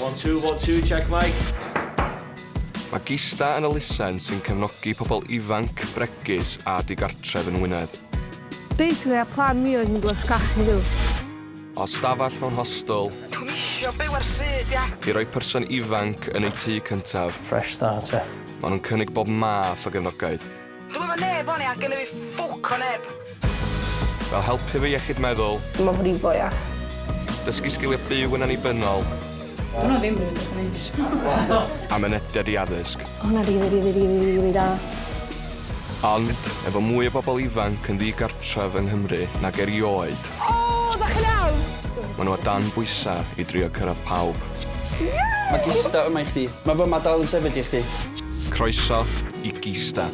One, two, one, two, check mic. Mae Gista yn elusen sy'n cefnogi pobl ifanc, bregus a digartref yn Wynedd. Basically, a plan mi oedd mynd i'r sgach heddiw. O stafell mewn hostel. Dwi'n isio byw ar syd, ia. I roi person ifanc yn eu tŷ cyntaf. Fresh start, ia. Maen nhw'n cynnig bob math o gefnogaeth. Dwi'm efo neb o'n i a gennyf fi ffwc o neb. Fel helpu fy iechyd meddwl. Dim o frif o ia. Dysgu sgiliau byw yn annibynnol. Dyna ddim rili beth o'n isio. A mynediad i addysg. O hwnna rili rili rili rili da. Ond, efo mwy o bobl ifanc yn ddigartref yng Nghymru nag erioed... O! Dach chi'n iawn? ...maen nhw o dan bwysau i drio cyrraedd pawb. Mae Gista yma i chdi. Mae fy Mad dal yn sefyll i chdi. Croeso i Gista.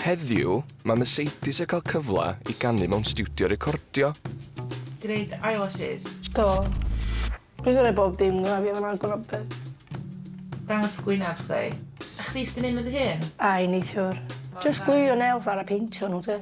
Heddiw, mae Mercedes yn cael cyfle i ganu mewn stiwdio recordio. Ti'n neud eyelashes? Do. Dwi'n gwneud bob dim gyda fi fan'na gwna be. Dangos gwyneb chdi. A chdi ystyn un o dy hun? Ai, neithiwr. Jyst glwio nails ar a peintio nhw te.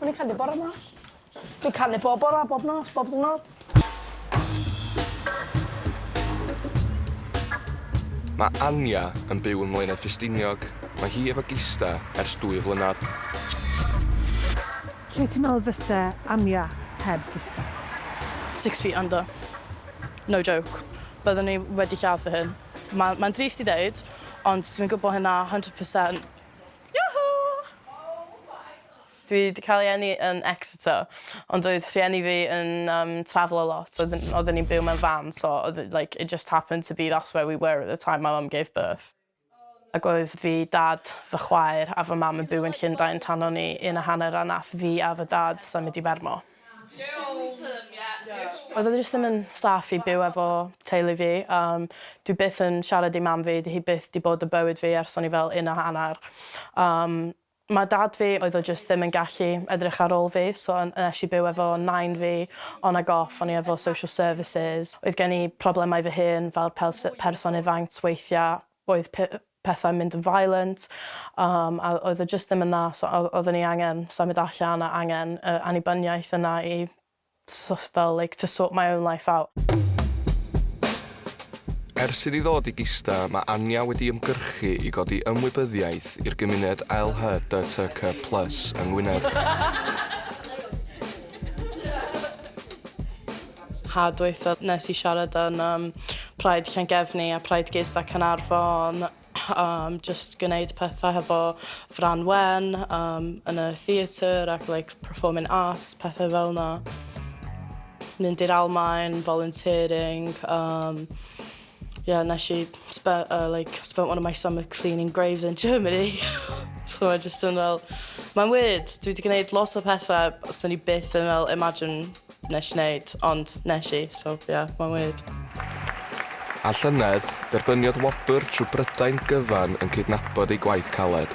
O'n i'n canu bore mas. Fi'n canu bob bore, bob nos, bob diwrnod. Mae Anja yn byw yn Mlaenau Ffestiniog. Mae hi efo gista ers dwy flynedd. Lle ti'n meddwl fyse Anja heb gista? Six feet under. No joke. Byddwn i wedi lladd fy hun. Mae'n drist i ddeud, ond dwi'n gwybod hynna 100%. Dwi 'di cael ei eni yn Exeter ond oedd rhieni fi yn yym trafelo a lot oedd yn oedden ni'n byw mewn van so oedd e like it just happened to be that's where we were at the time my mum gave birth ac oedd fi, dad, fy chwaer a fy mam yn byw yn Llundain tan o'n i un a hanner a nath fi a fy dad symud i Fermo. Oedd o jyst ddim yn saff i byw efo teulu fi yym dwi byth yn siarad i mam fi 'di hi byth 'di bod y bywyd fi ers o'n i fel un a hannar yym ma' dad fi oedd o jyst ddim yn gallu edrych ar ôl fi so yn yy esh i byw efo nain fi on ag off o'n i efo social services oedd gen i problemau fy hun fel pels- yy person ifanc weithia' oedd pethau'n mynd yn violent yym a oedd e jyst ddim yn dda so oedd oedden ni angen symud allan a angen yr annibyniaeth yna i so- fel like to sort my own life out. Ers iddi ddod i Gista mae Anja wedi ymgyrchu i godi ymwybyddiaeth i'r gymuned LHDTQ plus yng Ngwynedd. Haf dwytha nes i siarad yn um, Pride Llangefni a Pride Gist a Canarfon um, just gwneud pethau hefo Fran Wen um, yn y theatr ac like, performing arts, pethau fel yna. Mynd i'r Almain, volunteering, um, Yeah nes i spe- yy like spent one of my summer cleaning graves in Germany so ma' jyst yn fel mae'n weird dwi 'di gneud lot o pethe swn i byth yn fel imagine nes i neud ond nes i so ie mae'n weird. A llynedd, derbyniodd wobr trwy Brydain gyfan yn cydnabod ei gwaith caled.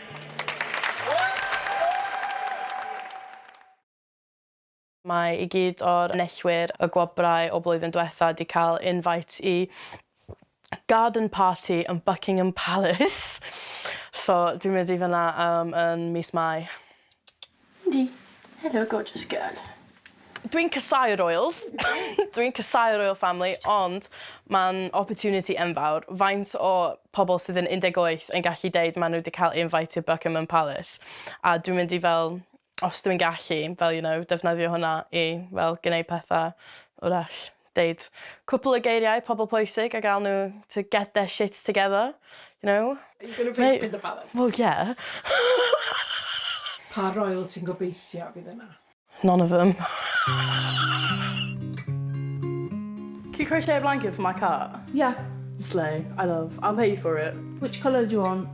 Mae i gyd o'r enillwyr y gwobrau o blwyddyn dwetha 'di cael invite i garden party yn Buckingham Palace so dwi'n mynd i fynna yym yn mis Mai. Yndi. Helo gorgeous girl. Dwi'n casau royals. Dwi'n casau royal family ond ma'n opportunity enfawr. Faint o pobl sydd yn 18 yn gallu deud ma' nhw 'di cael invite i'r Buckingham Palace? A dwi'n mynd i fel os dwi'n gallu fel you know defnyddio hwnna i fel gneud petha 'w'rach Deud cwpl o geiriau pobl pwysig a gael nhw to get their shit together, you know. Are you going to rape in the palace? Wel ie. Pa royal ti'n gobeithio fydd yna? None of them. Can you crochet a blanket for my cat? Yeah. Slay. I love. I'll pay you for it. Which colour do you want?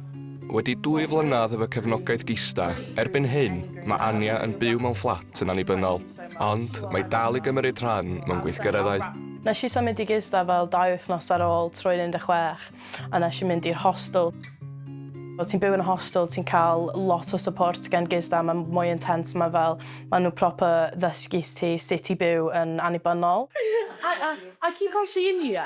Wedi dwy flynedd heb y cefnogaeth gista, erbyn hyn, mae Anya yn byw mewn fflat yn annibynnol. Ond mae dal i gymryd rhan mewn gweithgareddau. Nes i symud i gisda fel dau wythnos ar ôl troi'n 16 a nes i mynd i'r hostel. Os ti'n byw yn y hostel ti'n cael lot o support gan gisda, mae'n mwy intense, mae fel, maen nhw proper ddysgu ti sut i byw yn annibynnol. I, I, I keep on seeing you.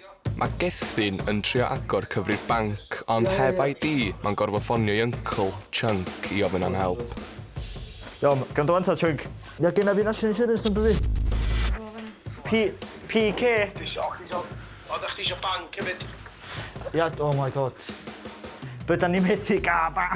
Mae Gethin yn trio agor cyfrif banc ond heb ID mae'n gorfod ffonio i uncle, Chunk, i ofyn am help. Iawn, gwrando wan ta, Chunk. Ia, genna fi National Insurance number fi. P, PK? Dwi isio ocê so, o da chdi isio banc hefyd? Ia, oh my god. Be da ni methu ga' ba-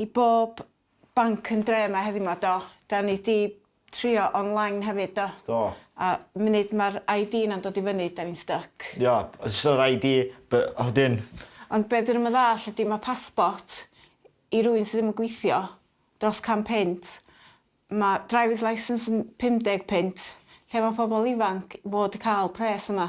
I bob banc yn dre ma heddi ma do. Da ni di trio online hefyd do. Do. A munud ma'r ID na'n dod i fyny da ni'n styc. Yep. Jyst yr ID by- a wedyn... Ond be dwi ddim yn ddall ydi ma passport i rywun sy ddim yn gwithio dros can punt ma drivers licence yn pum deg punt lle ma pobol ifanc fod i ca'l pres yma?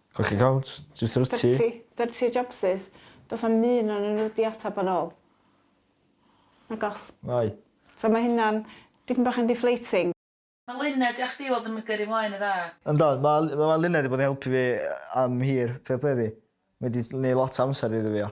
Colli count? Jyst rhyt ti? Thirty. Thirty o jobsus. Does na'm un onyn nhw 'di atab yn ôl. Nagos. Nai. So ma' hynna'n dipyn bach yn deflating. Ma Luned diolch chdi weld yn gyrru mlaen yn dda. Yndw, ma ma Luned 'di bod yn helpu fi am hir, fair play iddi. Mae 'di neu' lot o amser iddo fi o.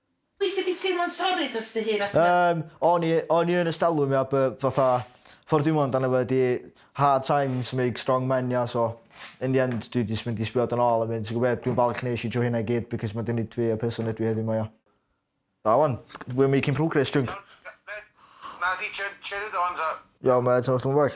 Weithia di teimlo'n sori dros dy hun achos... Yym o'n i o'n i yn ystalwm ia bu- fatha ffor dwi'm amdano fo ydi hard times make strong men ia so in the end dwi jys mynd i sbio dan ôl a mynd ti gwbo be dwi'n falch nesh i trw hynna i gyd because ma di neud fi y person ydw i heddiw 'ma ia. Da wan. We're making progress junk. Iawn, ma' di cherry dawns a... Iawn ma' It's not gonna work.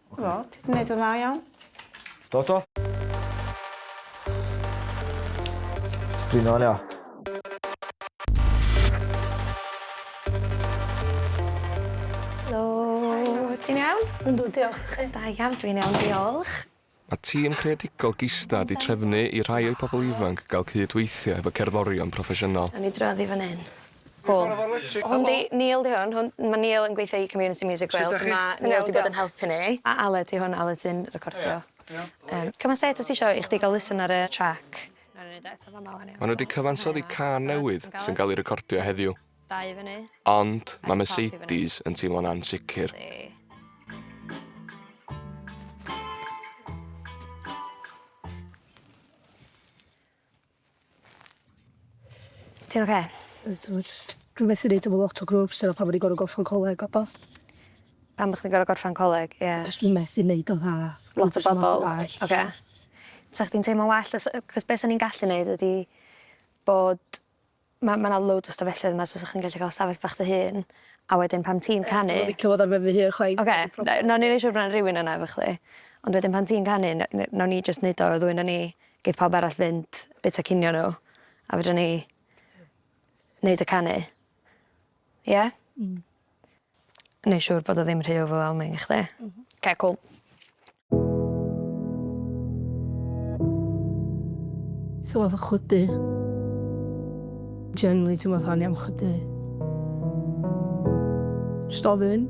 Do, ti 'di neud yn dda iawn. Do do. Dwi'n ôl ia. Helo. Helo. Ti'n iawn? Yndw diolch, a chi? Da iawn dwi'n iawn diolch. Mae tîm creadigol Gista wedi trefnu i rhai o'i pobl ifanc gael cydweithio hefo cerddorion proffesiynol. Nawn ni droi oddi fan hyn. Cŵl. Hwn 'di Neil 'di hwn hwn ma' Neil yn gweithio i Community Music Wales a ma' Neil 'di bod yn helpu ni. A Aled 'di hwn Aled sy'n recordio. Yym come an' say it os ti isio i chdi ga'l listen ar y track. Nawn ni neud o eto fama ŵan iawn? Ma' n'w 'di cyfansoddi cân newydd sy'n ga'l 'i recordio heddiw. Dau fyny. Ond ma' Mercedes yn teimlo'n ansicir. Ti'n oce? Ydw jyst rhywbeth methu neud efo lot o grwps dyna pam o'n i gor'o' gorffan coleg a ba. Pam bo' chdi'n gor'o' gorffan coleg ie. Achos dwi methu neud o dda. Lot o bobol. Oce. Sa chdi'n teimlo'n well os yy 'c'os be' san ni'n gallu neud ydi bod Ma' ma' 'na loads o stafelloedd yma so sa chi'n gallu ca'l stafell bach dy hun a wedyn pan ti'n canu... Dwi'm yn licio fod ar ben fy hun chwaith. Oce na- nawn ni neu' siŵr bo' 'na rywun yna efo chdi. Ond wedyn pan ti'n canu ne- ne- nawn ni jyst neud o y ddwy 'non ni geith pawb arall fynd bita cinio n'w a fedrwn ni neud y canu. Ie? Hmm. Neu' siŵr bod o ddim rhy overwhelming i chdi. M-hm. 'K cŵl. Sa fo'n fatha chwydu. Generally teimlo fatha o'n i am chwydu. Jyst ofyn.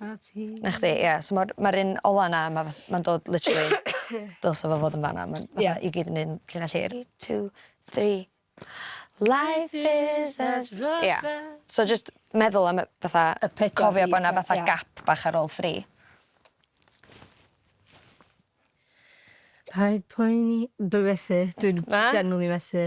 'Na ti. 'Na chdi ia so ma'r ma'r un ola 'na ma' fath- ma'n dod literally dylse fo fod yn fan 'na ma'n fatha... Ia. ...i gyd yn un llinell hir. Three two three. Life is a stroke of... Ia. So jyst meddwl am y fatha... Y pedwar beat 'ma. ...cofio bo' 'na fatha gap bach ar ôl three. Paid poeni dwi methu dwi'n... Na? ...genuinely methu.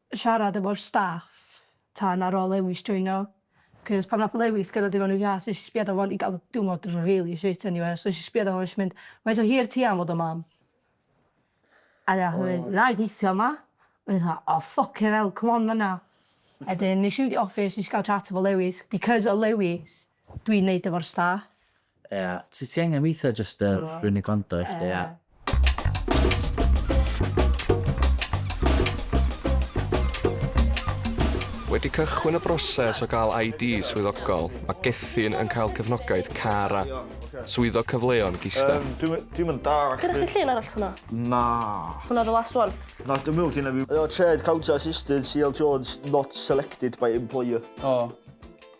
siarad efo'r staff tan ar ôl Lewis joino, cos pan nath Lewis gyrradd digon o gas nes i sbiad ar fo'n i ga'l diwrnod rili shit eniwe so nes i sbiad ar fo'n nesh i mynd faint o hir ti am fod yn mam? A nath o mynd na'i gwithio 'ma. O'n i fatha o ffycin 'ell c'mon fan 'na. A 'dyn nesh i mynd i office nesh i ga'l chat efo Lewis because o Lewis. Dwi'n neud efo'r staff. Ia, ti ti angen weithio jyst yy So- rwy'n i gwrando i chdi a... Wedi cychwyn y broses o gael ID swyddogol, mae Gethin yn cael cefnogaeth Cara, Swyddog Cyfleon Gisda. Yym, dwi'm yn- dwi'm yn dallt... Gynna chdi llun arall hwnna? Na. Hwnna oedd y last one? Na, dwi'n meddwl gynna fi... Yy, Trade Counter Assistant, CL Jones, not selected by employer. O.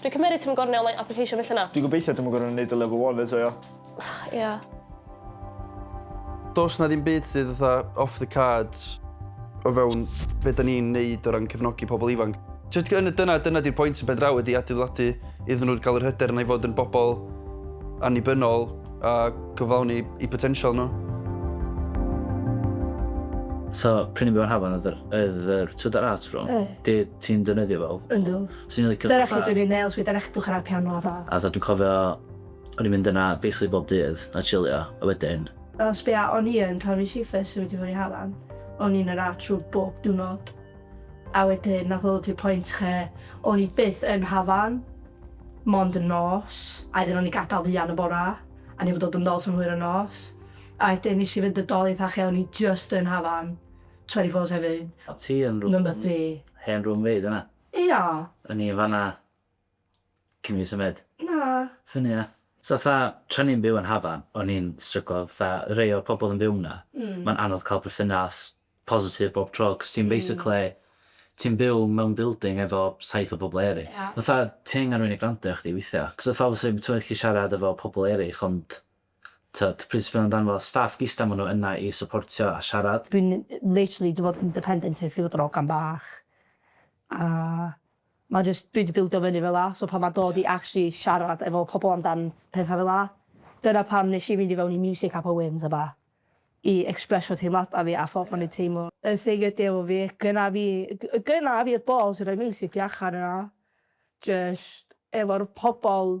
Dwi'n cymeryd ti'm yn gor'o' neu' online application felly na? Dwi'n gobeithio dwi'm yn gor'o' neud y level one eto ia? Ia. Does 'na ddim byd sydd fatha off the cards o fewn be' 'da ni'n neud o ran cefnogi pobol ifanc. Jyst yn y dyna dyna 'di'r pwynt yn ben draw ydi adeiladu iddyn nhw ga'l yr hyder yna i fod yn bobol annibynnol a cyflawni 'u potensial nhw. So, prynu mewn hafan oedd yr oedd yr twd a'r art room? Oedd. Dwyt ti'n defnyddio fel? Yndw. Swn i'n licio fatha... Dyna lle dwi'n neud nails fi, dyna lle dwi'n chwarae piano a petha. A fatha dwi'n cofio o'n i'n mynd yna basically bob dydd a chillio a wedyn... O sbia o'n i yn pan nes i first symud i fyny Harlan o'n i yn yr art room bob diwrnod a wedyn nath o ddod i'r point lle o'n i byth yn Hafan mond yn nos a wedyn o'n i'n gadal fuan y bora a o'n i'm yn dod yn ôl tan hwyr y nos a wedyn nes i fynd yn doeth a lle o'n i jyst yn Hafan 24 hefyd. A ti yn rw- Number three. Hen room mate yna? Ia. O'n i yn fan'na cyn i fi symud. Na. Ffyni ia? So fatha, tra o'n i'n byw yn Hafan, o'n i'n stryglo, fatha rei o'r pobl oedd yn byw 'na, mae'n anodd cael perthynas positif bob tro, cos ti'n basically, ti'n byw mewn building efo saith o bobl eraill. Ia. Fatha, ti angen rhywun i gwrando arna chdi weithiau, cos fatha obviously ti'n gallu siarad efo pobl eraill ond Tyd, pryd sydd yn ymddangos staff gisda ma nhw yna i syportio a siarad. Dwi'n literally di fod yn dependent ar fy drogan bach a ma jyst dwi di bildio fyny fela so pan ma'n dod i actually siarad efo pobl amdan petha fela dyna pam nes i fynd i fewn i music a poems a bach i expressio teimlada fi a ffordd o'n i'n teimlo. Y thing ydi efo fi gynna fi gynna fi'r balls i roi music fi allan yna jyst efo'r pobl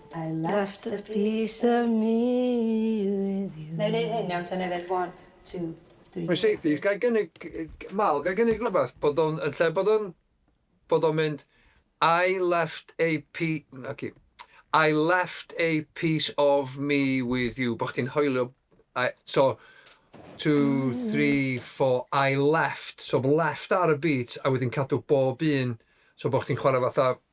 I left a piece of me with you. Nai neud hyn iawn ta nai ddeud one, two, three. Mae'n seithties, gai gynnig, Mal, gai gynnig rhywbeth bod o'n, yn lle bod o'n, bod o'n mynd I left a pi-, na ci, I left a piece of me with you, bod chdi'n hoelio, I, so, two, three, four, I left, so bod left ar y beat a wedyn cadw bob un, so bod chdi'n chwarae fatha,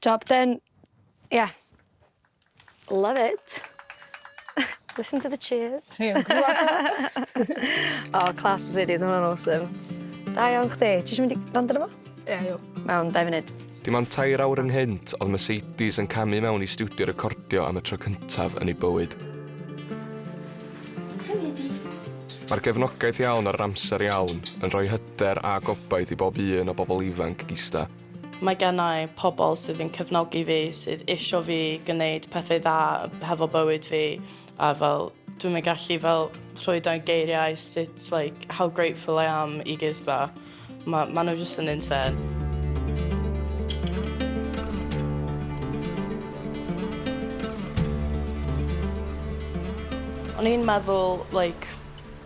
Job done. Ia. Love it. Listen to the cheers. Dwi yn clwad o. O class Mercedes ma' wnna'n awesome. Da iawn chdi. Ti isio mynd i rando arno fo? Ia iawn. Mewn dau funud. Dim ond tair awr ynghynt oedd Mercedes yn camu mewn i stiwdio recordio am y tro cyntaf yn ei bywyd. Mae'r gefnogaeth iawn a'r amser iawn yn rhoi hyder a gobaith i bob un o bobl ifanc gista. Mae gennai pobl sydd yn cefnogi fi, sydd isio fi gwneud pethau dda hefo bywyd fi a fel dwi'm yn gallu fel rhoi dan geiriau sut like how grateful I am i Giz 'da. Ma' ma' nhw jyst yn insane. O'n i'n meddwl like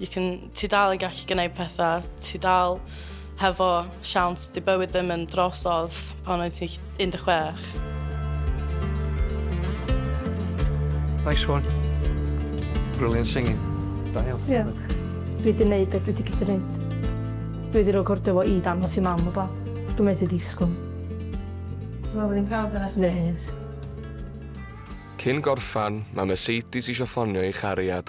You can, ti dal yn gallu gwneud pethau, ti dal hefo siawns, di bywyd ddim yn drosodd pan oes ti 16. Nice one. Brilliant singing. Da iawn. Ie. Yeah. Dwi wedi gwneud beth dwi wedi gallu gwneud. Dwi wedi rhoi gordio fo i dan os i mam o ba. Dwi'n methu disgwyl. Ti'n meddwl bod ni'n prawd yna? Nes. Cyn gorffan, mae Mercedes eisiau ffonio ei chariad.